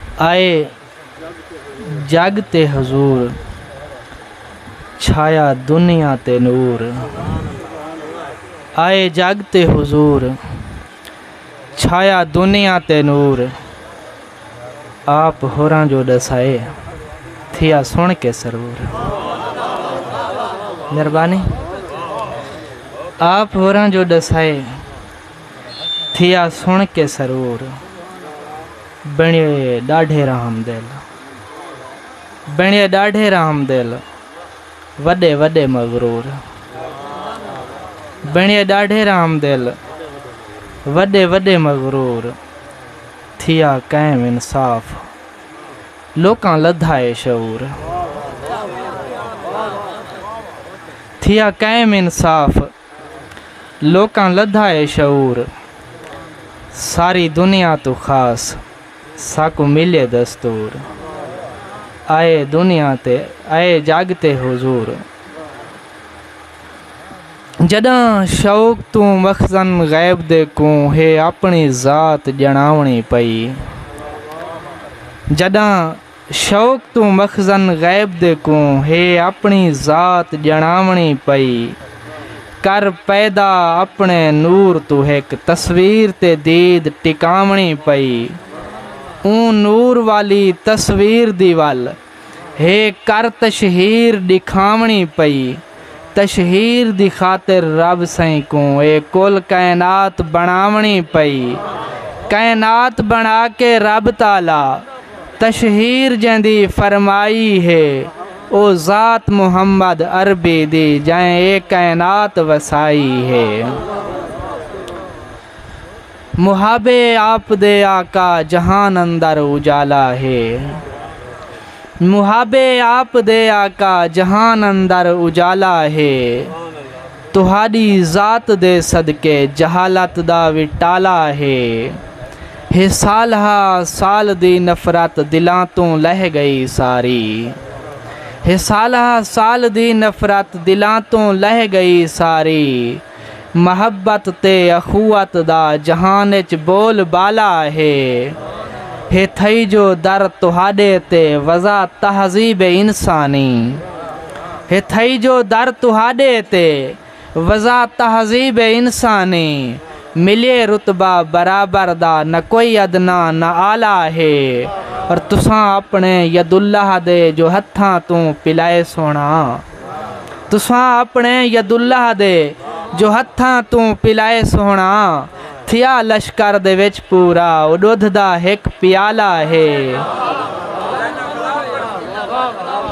آئے جگ تے حضور چھایا دنیا تے نور آئے جگ تے حضور چھایا دنیا تے نور آپ ہوراں جو ڈسائے تھیا سن کے سرور مہربانی آپ ہوراں جو ڈسائے تھیا سݨ کے سرور بݨیے ݙاڈھے رحم دل بݨیے ݙاڈھے رحم دل وݙے وݙے مغرور بݨیے ݙاڈھے رحم دل وݙے وݙے مغرور تھیا قائم انصاف لوکاں لدھا اے شعور تھیا قائم انصاف لوکاں لدھا اے شعور ساری دنیا توں خاص ساکوں ملے دستور آئے دنیا تے آئے جگ تے حضور جڈاں شوق توں مخزن غیب دے کوں ہے اپنی ذات جناونی پئی جڈاں شوق توں مخزن غیب دے کوں ہے اپݨی ذات ڄݨاوݨی پئی کر پیدا اپݨے نور توں ہک تصویر تے دید ٹکاوݨی پئی اوں نور والی تصویر دی ول ہے کر تشہیر ݙکھاوݨی پئی تشہیر دی خاطر رب سئیں کوں اے کل کائنات بݨاوݨی پئی۔ کائنات بݨا کے رب تعالی تشہیر جیندی فرمائی ہے او ذات محمد عربی دی جئیں اے کائنات وسائی ہے۔ محب آپ دے آقا جہان اندر اجالا ہے محب آپ دے آقا جہان اندر اجالا ہے تہاݙی ذات دے صدقے جہالت دا وی ٹالا ہے ہے صالحہ سال دی نفرت دلاں توں لہہ ڳئی ساری ہے صالحہ سال دی نفرت دلاں توں لہہ ڳئی ساری محبت تے اخوت دا جہان اچ بول بالا ہے۔ ہے تھئی جو در تہاݙے تے وضع تہذیب انسانی۔ ہے تھئی جو در تہاݙے تے وضع تہذیب انسانی۔ ملیے رتبہ برابر دا نہ کوئی ادنی نہ اعلی ہے۔ اور تساں اپݨے یداللہ دے جو ہتھاں توں پلائے سوہݨا۔ تساں اپݨے یداللہ دے جو ہتھاں توں پلائے سوہݨا تھیا لشکر دے وچ پورا او ݙدھ دا ہک پیالہ ہے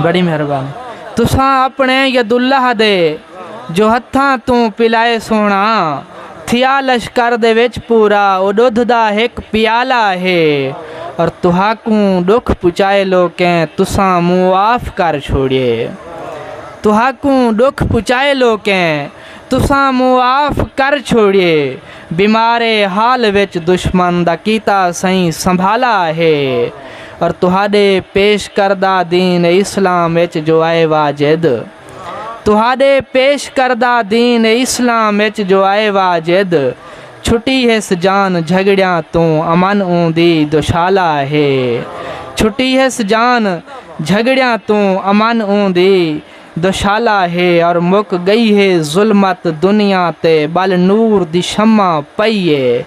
بڑی مہربانی تساں اپݨے یداللہ دے جو ہتھاں توں پلائے سوہݨا تھیا لشکر دے وچ پورا او ڈودھ دا ہک پیالہ ہے اور تہاکوں ڈکھ پچائے لوکیں تساں معاف کر چھوڑیے تہاکوں ڈکھ پچائے لوکیں تساں معاف کر چھوڑیے بیمارے حال وچ دشمن دا کیتا سئیں سنبھالا ہے اور تہاڈے پیش کردہ دین اسلام وچ جو اے واجد تہاݙے پیش کردہ دین اسلام اچ جو اے واجد چھٹی ہس جان جھڳڑیاں توں امن اوں دی دوشالا ہے چھٹی ہس جان جھڳڑیاں توں امن اوں دی دوشالا ہے اور مک ڳئی ہے ظلمت دنیا تے ٻل نور دی شمع پئی اے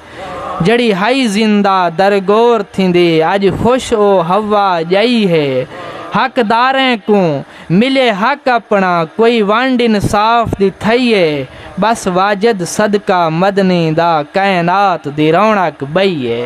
جیڑھی ہئی زندہ درگور تھیندی اڄ خوش او ہوا ڄائی ہے حق داریں کوں ملے حق اپݨا کوئی ونڈ انصاف دی تھئی اے بس واجد صدقہ مدنی دا کائنات دی رونق ٻئی اے۔